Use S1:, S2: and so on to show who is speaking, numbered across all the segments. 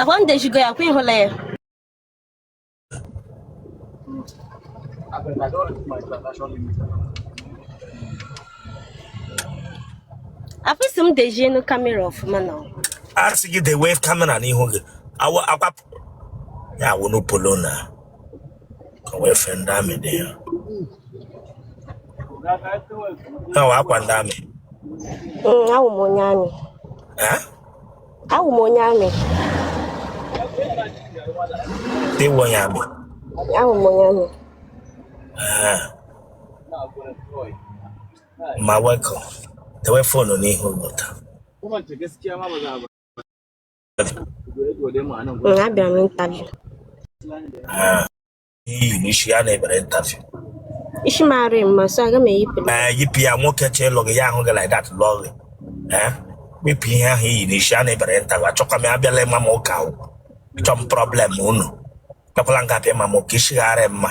S1: Akwa m dejigo ya kwa ịhụla ya. Afọ isi m dezienu kamera ọfụma na ọ. a sị gị
S2: dewe kamera n'ihu gị Awa- akwa ya wụrụ polo na ọ wụ efe ndị amị dị ya ya wụ akwa ndị amị Mm, awụ
S1: m onye amị Eh?
S2: awụ
S1: m onye amị
S2: ị wụ onye amị awụ m
S1: onye amị
S2: Eh, ma welcome dewe fonu n'ihu ụlọ taa abịara m intaviu i yi n'isi ya na-emere intaviu isi m
S1: arị mma so aga m eyipụ ee yipụ ya nwoke
S2: chọ ịlụ gị ya ahụ gị like that lụọ gị ee wepụ ihe ahụ i yi n'isi ya na-emere intaviu achọkwa m ya abịala ịma m ụka ahụ chọọ m problem unu abịakwala nga bịa ịma m ụka isi gharị mma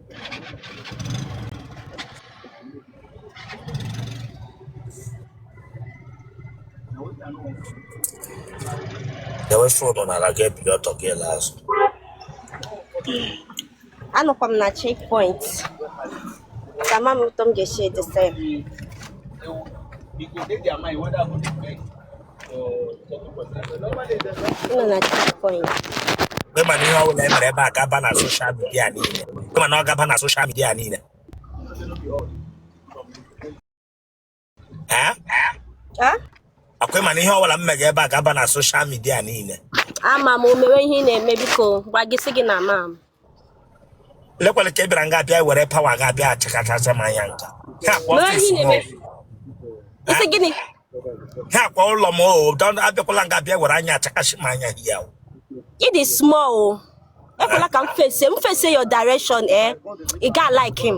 S2: Dewe fonu na aga ebido ọtọ gị ele
S1: azụ. Anọkwa m na checkpoint. So ama m otu m ga-esi edesa ya. nọ na checkpoint ị ma
S2: na ihe ọ bụla e mere ebe a ga-aba na soshal midia niile ị ma na ọ ga-aba na soshal midia niile
S1: ee Ah, akwa ị
S2: ma na ihe ọ bụla m mega ebe a ga-aba na soshal midia niile ama m o mewe
S1: ihe ị na-eme biko gwa gị sị gị na ama m
S2: lekwala ka ị bịara nga bịa were pawa ga bịa achịkachasị m anya nga ha akwa Mewe ọfịs ihe m o.
S1: na-eme. Isi gịnị? ha akwa
S2: ụlọ m o don- abịakwala nga bịa were anya achịkachasị m anya here o Ị
S1: dị small o. Ekwela ka m face, m face your direction eh. Ị ga like him.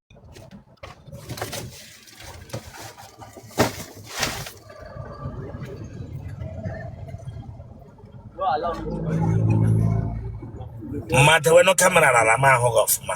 S2: ma dewenụ kamera na ana m ahụ gị ọfụma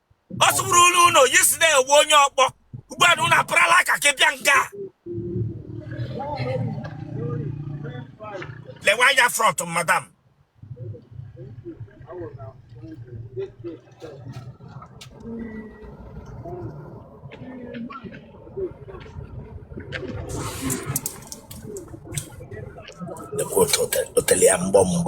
S2: ọ sụbụrụ unu yesterday wụ onye ọkpọ ugbu a na unu apụrala aka ka bịa nga lewe anya front madam lekwa otele, otele, I'm bomb.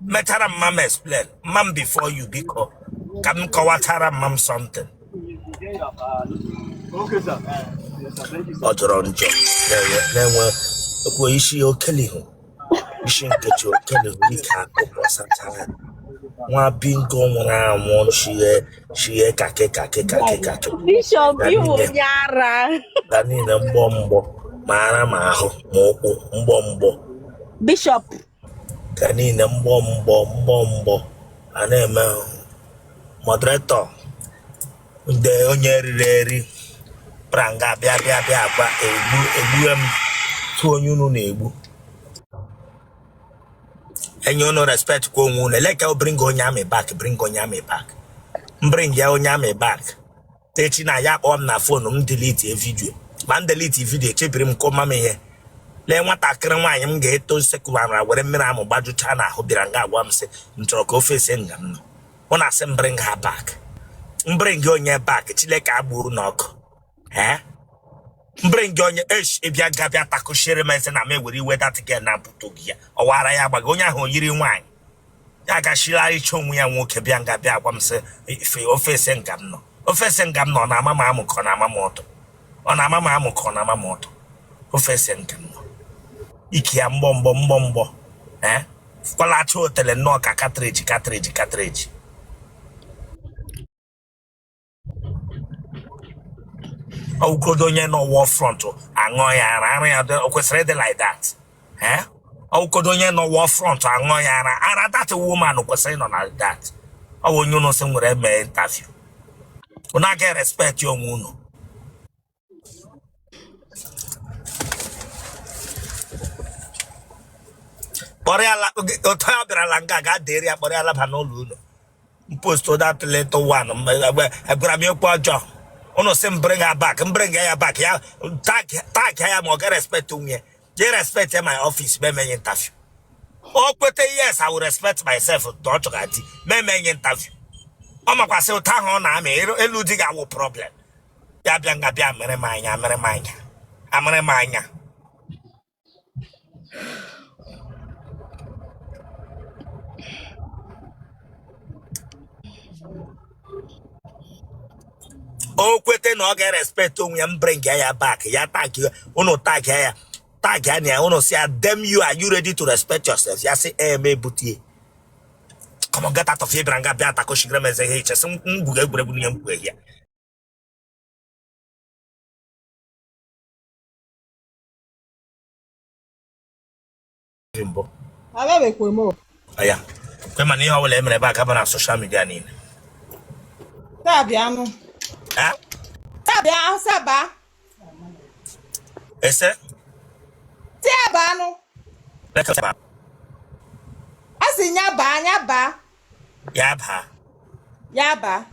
S2: metara mma m explain mma m before you biko ka m kọwatara mma m
S3: something ọ jọrọ njọ
S2: na-enwe ekwu isi okelihu isi nkechi okelihu ike akụkọ sacha ya nwa bingo nwụrụ anwụ chighe chighe kakị kakị kakị
S1: kakị Bishop na iwu niile onye ara na niile mgbọ
S2: mgbọ ma ara ma ahụ ma ụkwụ mgbọ mgbọ Bishop ka niile mgbọ mgbọ mgbọ mgbọ a na-eme moderator ndị onye riri eri pranga bịa bịa bịa gwa egbu egbue m tụ onye unu na-egbu enye unu respect kwa onwe unu eleka bring onye amị back bring onye amị back bring ya onye amị back echi na ya akpọọ m na phone m delete video ma m delete video echebiri m kọma m ihe lee nwatakịrị nwaanyị m ga-eto nsekwara were mmiri amụ gbajụchaa n'ahụ bịara nga agwa m sị m chọrọ ka ofe ese nga m nọ ọ na-asị m bring her back m bring gị onye back Chineke agburu n'ọkụ ee m bring gị onye esh ịbịa gabịa takụchiere m ese na m ewere iwe that girl na mpụtụ gị ya ọ wara ya agbaghị onye ahụ o yiri nwaanyị ya gachila ịchọ onwe ya nwoke bịa nga bịa agwa m sị ife ofe ese nga m nọ ofe ese nga m nọ ọ na-ama m amụ ka ọ na-ama m ọtụ ọ na-ama m amụ ka ọ na-ama m ọtụ ofe ese nga m nọ ike ya mgbọ mgbọ mgbọ mgbọ ee kwalacha otele nnọọ ka cartridge cartridge cartridge ọ wụ godo onye nọ war front aṅụọ ya ara ara ya dị- o kwesịrị ịdị like that eh? ọ wụ godo onye nọ war front aṅụọ ya ara ara that woman kwesịrị ịnọ like that ọ wụ onye unu sị nwere mee interview unu aga respect onwe unu kpọrọ ya la- oge- otu a bịara la nga ga dịrị ya kpọrọ ya laba n'ụlọ unu m post that little one gwara m okwu ọjọọ unu sị m bring her back m bring ya back ya tag tag ya ma ọ ga respect onwe ya je respect ya my office ma emenye interview o kweta yes i will respect myself na ọ chọga di ma emenye interview ọ makwasị ụta ahụ ọ na-amị elu- elu di ga-awụ problem bịa bịa nga bịa mere m anya mere m anya amere m anya o kwete na ọ ga-erespect onwe ya m bring ya ya back ya tag ya unu tag ya ya tag ya na ya unu sị ya damn you are you ready to respect yourself ya sị ee m ebute ya come on get out of here bịara nga bịa atakoshigre m eze ihe i che sị m gwuga egwuregwu n'ihe m kwuo ya mbụ
S4: ya
S2: kwe mana ihe ọbụla e mere ebe a ga-aba na social media niile ese a sị nya
S4: baa nya baa ya baa ya
S2: baa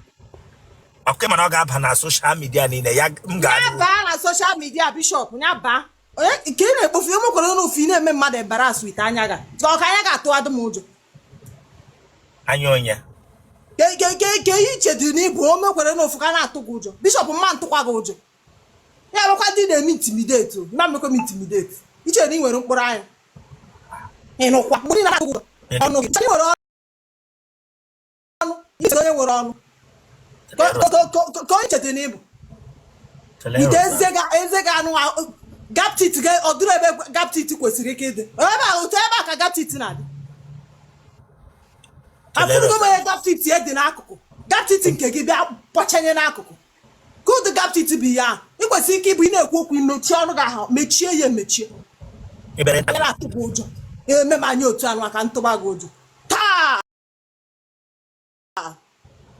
S2: okay mana ọ ga-aba na social media niile ya m ga ya baa na social
S4: media bishop ya baa onye nke ị na-ekpofu ihe mekwara ụlọ ofu ị na-eme mmadụ embarrass with anya gị a ọ ka anya ga-atụ adụ m
S2: ụjọ anya onye
S4: ka i chedị na ị bụ o mekwara n'ofu ka na-atụ gị ụjọ bishop m ma ntụkwa gị ụjọ ya bụkwa ndị ị na-eme intimidate na-emekọ m intimidate i che na ị nwere mkpụrụ anya ị nụkwa mgbe na agụ ọnụ gị nwere ọnụ ị sị onye nwere ọnụ ka onye i chedị na ị bụ with eze gị ahụ gap teeth ọ dịrị ebe gap teeth kwesịrị ike ịdị ebe a otu ebe a ka gap teeth na-adị afụrụgo m onye gap teeth ya dị n'akụkụ gap teeth nke gị bịa kpọchanye n'akụkụ good gap teeth bụ ya ị kwesịrị ike ịbụ ị na-ekwu okwu mechie ọnụ gị ahụ mechie ya emechie ebere nta
S2: anyara atụ gị ụjọ
S4: eme m anya otu ahụ ka m tụba gị ụjọ taa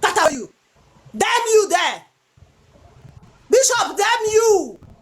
S4: tata you damn you there bishop damn you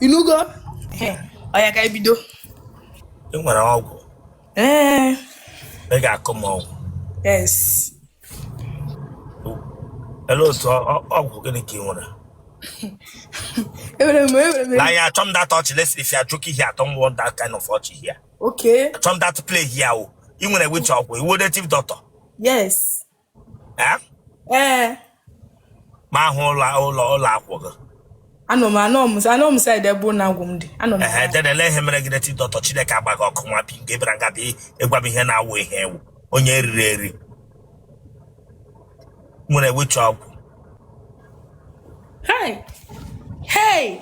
S5: ị nụgo oya ka e bido
S2: ị nwere ọgwụ ee ị ga-akụ m ọgwụ yes ele otu ọ- ọ- ọgwụ gịnị ka ị nwere enwere m enwere m na ya achọ m that ọchị listen if you are joking here i don't want that kind of ọchị here okay achọ m that
S5: play here
S2: o ị nwere which ọgwụ ị wụ native doctor yes Eh? ee ma ahụ ụlọ ụlọ ụlọ akwụkwọ gị
S5: anọ m anọ m anọ m side ebe ụlọ agwụ m dị anọ m ehe then lee ihe mere gị
S2: native doctor chineke agba gị ọkụ nwa bi nke bịara nga bịa ịgwa m ihe na-awụ ihe ewu onye eriri eri nwere which ọgwụ hey
S5: hey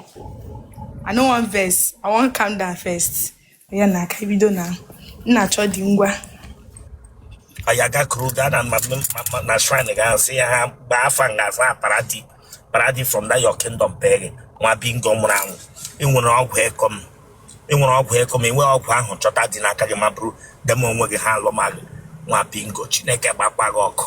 S5: i no wan vex i wan calm down first ya na aka bido na na-achọ di
S2: ngwa anyị agakụrụ gaa na ma- ma- ma- na shrine gị ahụ sị ya ha gbaa afa nga aza paradi paradi from that your kingdom pig nwa bingo nwụrụ anwụ i nwere ọgwụ ekọm i nwere ọgwụ ekọm i nwee ọgwụ ahụ chọta di n'aka gị ma bụrụ dem onwe gị ha alụma gị nwa bingo chineke gbakwa gị ọkụ